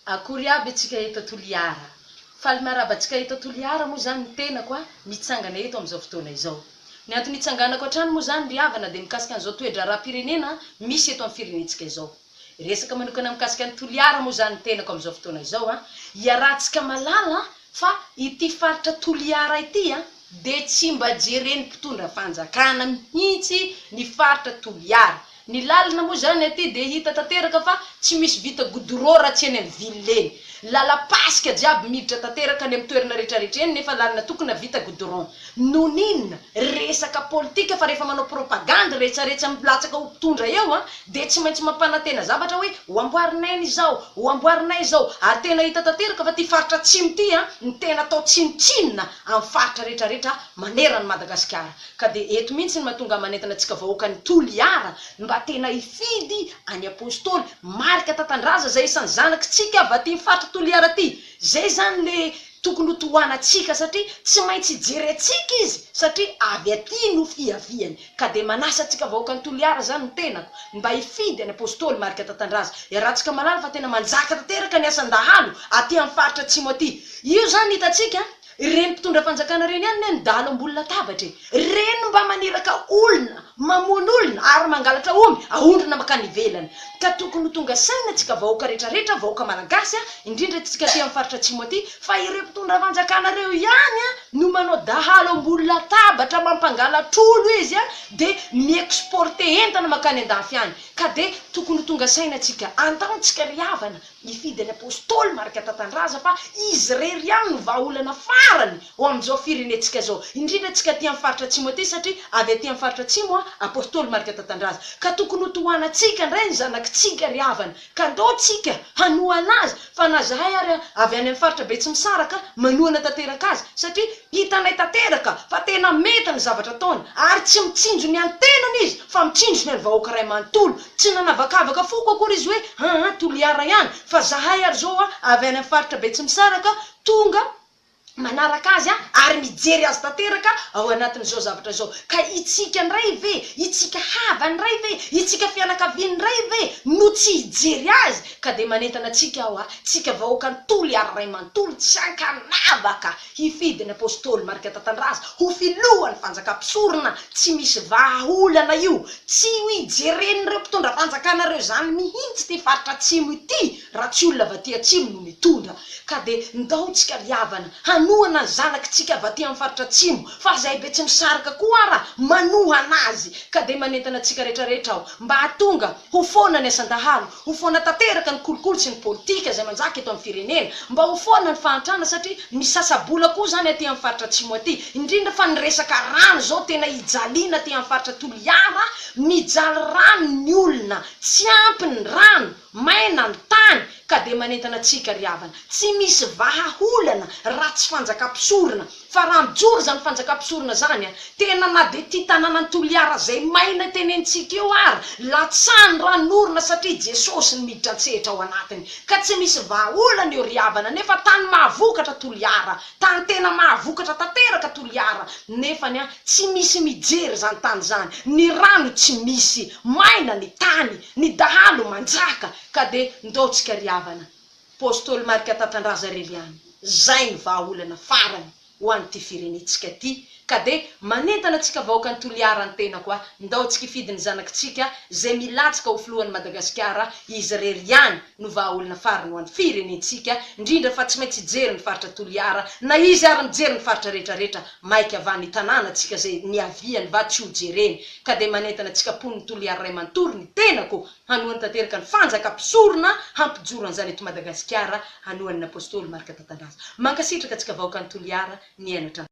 Akory aby atsika eto Toliara. Faly miarahaba atsika eto Toliara moa zany ny tenako a, mitsangana eto amin'izao fotoana izao. Ny antony itsanganako hatrany moa zany ry havana dia mikasika an'izao toe-draharaham-pirenena misy eto amin'ny firenentsika izao. Resaka manokana mikasika an'i Toliara moa zany ny tenako amin'izao fotoana izao a, iarahantsika malala fa ity faritra Toliara ity a, dia tsy mba jeren'ny mpitondra fanjakana mihitsy ny faritra Toliara. Ny lalana moa izany aty dia hita tanteraka fa tsy misy vita godorao raha tsy eny amin'ny ville eny. Lalam-pasika jiaby miditra tanteraka any amin'ny toerana rehetrarehetra eny nefa lalana tokona vita goudron. Noninona? Resaka politika fa rehefa manao propagandy rehetrarehetra milatsaka ho mpitondra eo an dia tsy maintsy mampanantena zavatra hoe ho amboarinay ny izao, ho amboarinay izao. Ary tena hita tanteraka fa ity faritra atsimo ity an ny tena atao tsinontsinona amin'ny faritra rehetra rehetra maneran' ny Madagasikara ka dia eto mihitsy no mahatonga manentana antsika vahoaka ny Toliara ny mba tena hifidy any Apostoly marika tantandraza izay isan'ny zanaky tsika avy aty faritra Toliara aty izay izany le tokony ho tohana antsika satria tsy maintsy hijery antsika izy satria avy aty no fiaviany. Ka dia manasa antsika vahoakan'i Toliara izany ny tenako, ny mba hifidy an'i Apostoly Marc Tatandraza. Iarahantsika mahalala fa tena manjaka tanteraka ny asan'ny dahalo aty amin'ny faritra Atsimo aty. Io izany hitantsika, ireny mpitondra fanjakana ireny ihany anie no dahalo ambony latabatra e! Ireny no mba maniraka olona, mamono olona ary mangalatra omby ahondrona mankany ivelany. Ka tokony ho tonga saina antsika vahoaka rehetra rehetra, vahoaka malagasy, indrindra antsika aty amin'ny faritra Atsimo aty, fa ireo mpitondra fanjakana ireo ihany no manao dahalo ambony latabatra mampangalatr'olo izy a de ny mi exporter entana makany andafy any ka de tokony ho tonga saina tsika andaontsika ry havana mifidy an'i apostoly marika tatandraza fa izy rery ihany no vahaolana farany ho amin'izao firenentsika izao indrindra tsika aty amin'ny faritra atsimo aty satria avy aty amin'ny faritra atsimo a apostoly marika tatandraza ka tokony ho tohanatsika ndray ny zanakitsika ry havana Ka ndao tsika hanohana azy fa na zahay ary avy any amin'ny faritra Betsimisaraka manohana tanteraka azy satria hitanay tanteraka fa tena mety ny zavatra ataony ary tsy mitsinjo ny an'ny tenany izy fa mitsinjo ny an'ny vahoaka iray manontolo. Tsy nanavakavaka foko akory izy hoe aa Toliara ihany fa zahay ary zao avy any amin'ny faritra Betsimisaraka tonga manaraka azy ary mijery azy tanteraka ao anatin'izao zavatra izao. Ka itsika indray ve, itsika havany indray ve, itsika fianakaviany indray ve no tsy hijery azy? Ka dia manentana antsika aho a, tsika vahoaka nitoly ary ray manontolo tsy ankanavaka hifidy ny Apostoly Marc Tatandraza ho filohan'ny fanjaka mpisorona tsy misy vahaolana io, tsy ho ijeren'ireo mpitondra fanjakana ireo izany mihintsy ity faritra atsimo ity. Raha tsy olona avy aty atsimo no mitondra ka de ndao tsika ry havana hanohana ny zanaky tsika avy aty am faritra atsimo fa zay be tsy misaraka koa ara manohana azy ka de manentana tsika rehetra rehetra aho mba hatonga ho foana ny asandahalo ho foana tanteraka ny kolikoly sy ny politika zay manjaka eto am firenena mba ho foana ny fahantrana satria misasa bola koa zany aty am faritra atsimo aty indrindra fa ny resaka rano zao tena hijaliana aty am faritra toliara mijaly rano ny olona tsy ampy ny rano Maina ny tany ka dia manentana antsika ry havana, tsy misy vahaolana raha tsy fanjakam-pisorona, fa raha mijoro izany fanjakam-pisorona izany an, tena na dia ity tanànan'i Toliara izay maina tenenitsika eo ara, latsany ran'orona satria Jesosy no miditra an-tsehatra ao anatiny, ka tsy misy vahaolana eo ry havana, nefa tany mahavokatra Toliara, tany tena mahavokatra tanteraka Toliara, nefany an, tsy misy mijery izany tany izany, ny rano tsy misy, maina ny tany, Ny dahalo manjaka ka de ndao tsika ry havana Postôly Marc Tatandraza Reliany zay ny vahaolana farany ho an ty firenetsika ty ka de manentana tsika vahoaka ny Toliara ny tenako a ndao tsika ifidy ny zanaky tsika zay milatsaka ho filohan'i Madagasikara izy rery ihany no vahaolona farany ho an'ny firenentsika, indrindra fa tsy maintsy hijery ny faritra Toliara, na izy ary mijery ny faritra rehetra rehetra maika avy any tanàna tsika izay niaviany va tsy ho jereny, ka dia manentana tsika mponin'i Toliara ray manontolo ny tenako hanohany tanteraka ny fanjaka mpisorona hampijoro an'izany eto Madagasikara hanohany ny Apostoly Marc Tatandraza. Mankasitraka antsika vahoakan'i Toliara niaina hatramin'izao.